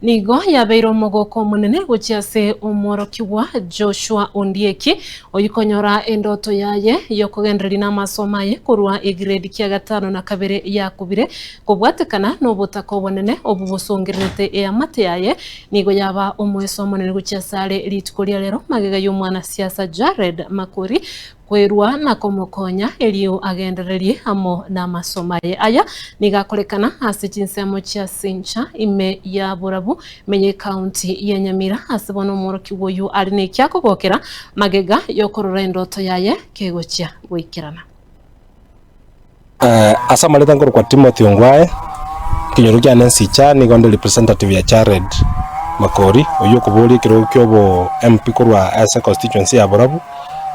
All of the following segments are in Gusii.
Nigo yabeire omogoko omonene gochia ase omworokigwa Joshua ondieki, oyio konyora endoto yaye y'okogendereria n'amasomo aye korwa egrade kia gatano na kabere yakubire kobwatekana nobotaka obonene obwo bosongererete eamate yaye nigo yaba omoeso omonene gochia asare rituko ria rero magega y'omwana siasa Jared Makori koirwa na komokonya erio agendererie amo namasomo aye. Aya nigo akorekana ase chinsemo chia Sincha ime ya Borabu, menya ekaunti ya Nyamira. Ase bono omworokigwa oyio are nekia kogokera magega yokorora endoto yaye kegochia goikerana. Ase amareta nkorokwa Timothy Ongwae, ekenyoro kiane nsicha nigo nde representative ya Jared Makori oyio okoboria ekerogo kia obo MP korwa ase constituency ya Borabu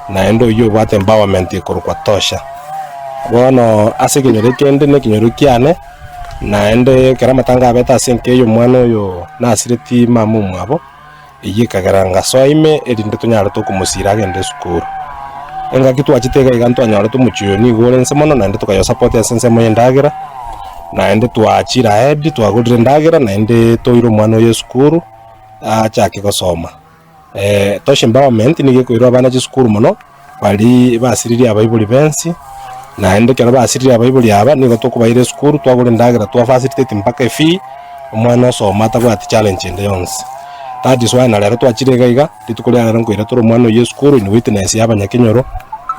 naende oyio obwate empowerment ekorokwa Tosha. Bono ase ekenyoro ekende ne ekenyoro kiane naende ekero amatanga abete ase enka eyo omwana oyo nasireti mama omwabo Eyio ekegera ngasoa ime, erinde tonyaarete okomosiira agende esukuru. Engaki twachete iga iga ntwanyorete omochie oyo nigo ore inse mono, naende tokayosapotia ase ensemo y'endagera, naende twachire ahead, twagorire endagera, naende toira omwana oyo esukuru achake gosoma. Tosha empowerment nigo ekoira abana chisukuru mono. Baria basiririe abaibori b'ense, naende ekero basiririe abaibori aba, nigo tokobaira esukuru, twagora endagera, twa facilitate mpaka efee, omwana osoma atabwati challenge ende yonsi. That is why na rero twachire iga iga, rituko ria rero nkoira tore omwana oyio esukuru in witness ya abanyakenyoro,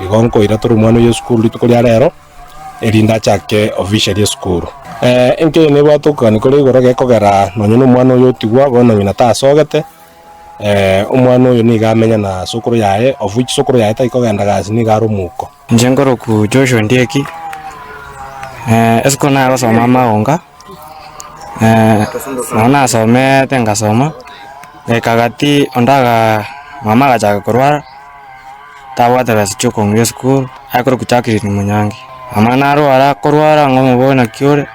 igo nkoira tore omwana oyio esukuru rituko ria rero, erinde achake officially esukuru. Enkenyoro nebwate okogania kore igoro gekogera nonye nomwana oyio otigwa, bono ng'ina tasogete. Omwana oyo nigo amenya na sokoro yaye, of which sokoro yaye tari kogenda gasi, nigo are omouko. Inche nkoroku Joshua Ndieki, esiko nagosoma amaonga, nabo nasomete ngasoma, ekagati onde aga mama agachaka korwara, tabwate besa chia okong'ira esukuru, aye koroku Jacqueline Munyangi. Mama narwara, akorwara ng'omoboe naki ore.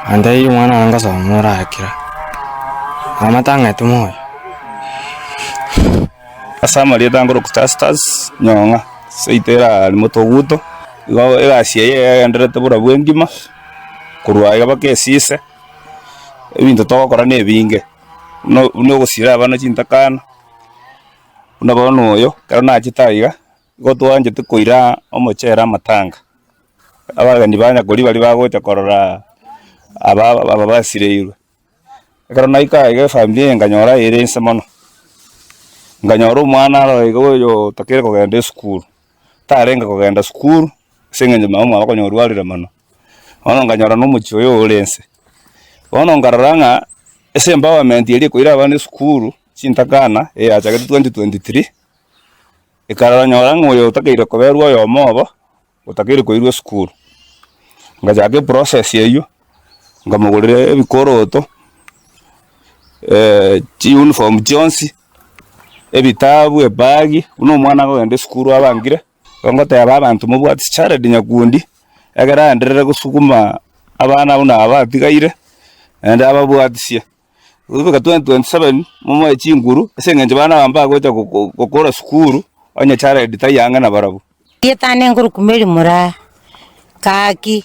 Nantaiyo omwana one ngosoma morakire, amate ang'ete moyo. Ase amarieta angorwe Gustastus Nyong'a, seito erari Motoguto, igo egasi eye yagendererete buna bwengima, korwa aiga mpaka esise, ebinto togokora na ebinge, buna buna ogosira abana chintakana, buna bono oyo, ekero nachete aiga. Nigo twanchete koira omochere amatanga, abageni ba nyakori baria bagocha korora aba aba basireirwe. Ekero naika iga efamiri eye nkanyora ere inse mono, nkanyora omwana aro iga oyo otakere kogenda esukuru, tarenge kogenda sukuru ase eng'encho mama omwabo konya orwarire mono, bono nkanyora na omochie oyo ore inse. Bono nkarora ng'a ase empowerment eria ekoira abana esukuru, chintakana, eyachakete twenty twenty three. Ekaroranyora ng'a oyo otakeire koberwa oyomo obo otakeire koirwa esukuru. Ngachaka eprocess eywo, nkamogorera ebikoroto, chiuniform chionsi, ebitabu, ebagi, buna omwana akogenda esukuru abangire. Igo ngoteba abanto mobwate chichared nyakundi, ekero aenderere gosuguma abana buna aba atigaire, naende ababwatisie. Ogobeka 2027 momoe chinguru ase eng'encho bana aba mbagocha go- go- gokora sukuru, onye Jared tari ang'e nabarabwo. Rietane ngorukumeri moraa, gaki,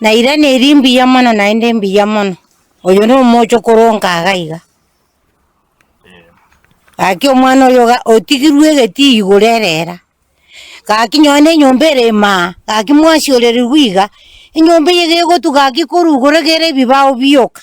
na irani eri mbuya mono naende mbuya mono, oyo nomoche okoronka iga iga. Gaki omwana oyo iga otigirwe egetii igoro erera, gaki nonye na enyomba ere imaa, gaki mwasi orerigwe iga, enyomba eye gegotuga gaki korwa igoro egere ebibao bioka.